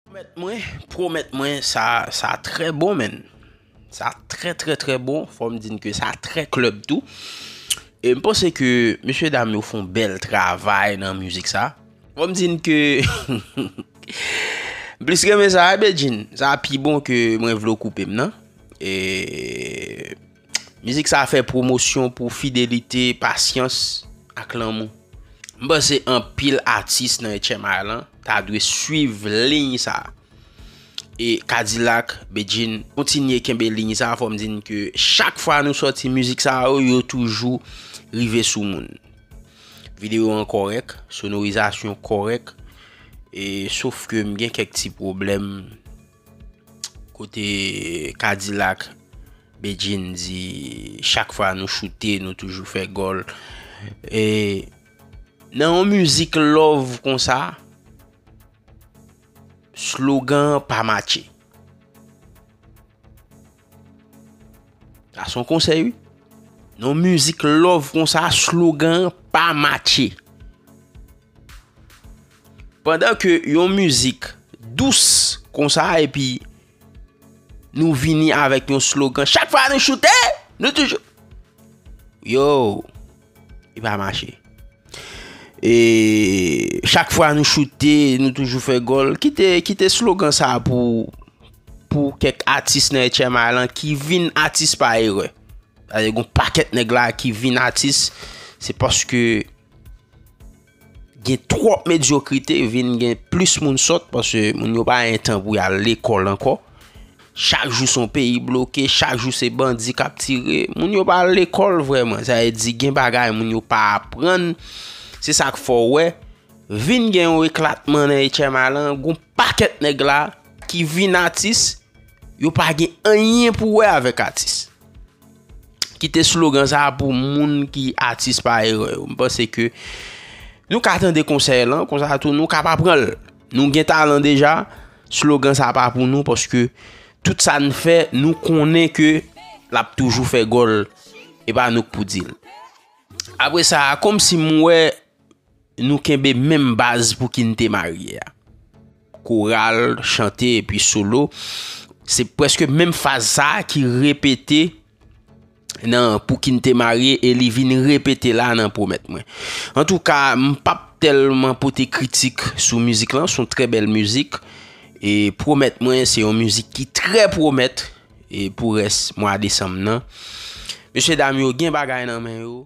Promèt mwen promèt mwen sa sa trè bon menn sa trè trè trè bon fòm di n ke sa trè klèb tou e m panse ke mesye dam yo fon bèl travay nan mizik sa fòm di n ke m plis renmen sa a Bedjine sa pi bon ke mwen vle w koupe m nan e. Mizik sa fè pwomosyon pou fidelite, pasyans ak lanmou. M panse anpil atis nan 8 ème art lan ta dwe swiv liy sa. E Kadilak, Bedjine kontinye kenbe liy sa fò m di n ke chak fwa nou sòti mizik sa yo, yo toujou rive sou moun. Videyo an kòrèk, sonorizasyon kòrèk e sof ke m gen kèk ti pwoblèm. Kote kadilak Bedjine di chak fwa nou choute nou toujou fè gòl. E nan yon mizik love konsa, slogan pa matche. Sa son konsèy wi. Non mizik love konsa slogan pa matche. Pandan ke yon mizik dous konsa epi nou vini avèk yon slogan chak fwa nou choute nou toujou. Yo! Li pa mache. E chak fwa nou choute, nou toujou fè gol. Kite slogan sa pou kèk atis nan HMI lan ki vin atis pa erè. Yon paket neg la ki vin atis, se paske... Gen twòp medyokrite vin gen plis moun sòt paske moun yo pa gen tan pou y al lekòl ankò. Chak jou son peyi bloke, chak jou se bandi k ap tire. Moun yo pa al lekòl vreman. Sa vle di gen bagay moun yo pa aprann. Se sa k fè w wè vin gen yon eklatman nan HMA lan. Gon pakèt nèg la ki vin atis, yo pa gen anyen pou wè avèk atis. Kite slogan sa a pou moun ki atis pa erè yo. M panse ke nou ka tande konsèy lan, konsa tou nou ka pa pran l. Nou gen talan deja, slogan sa a pa pou nou, paske tout sa n fè, nou konnen ke l ap toujou fè gòl, e pa nou k pou di l. Apre sa a, kòm si m wè, Nou kenbe menm baz pou kinte marye a. Koral, chante epi solo. Se preske menm faz sa ki repete nan pou kinte marye e li vin repete la nan pwomèt mwen. An tou ka, m pap telman pote kritik sou mizik lan, son tre bel mizik. E pwomèt mwen se yon mizik ki tre pwomèt e pou res mwa desanm nan. Mesye dam yo gen bagay nan men yo.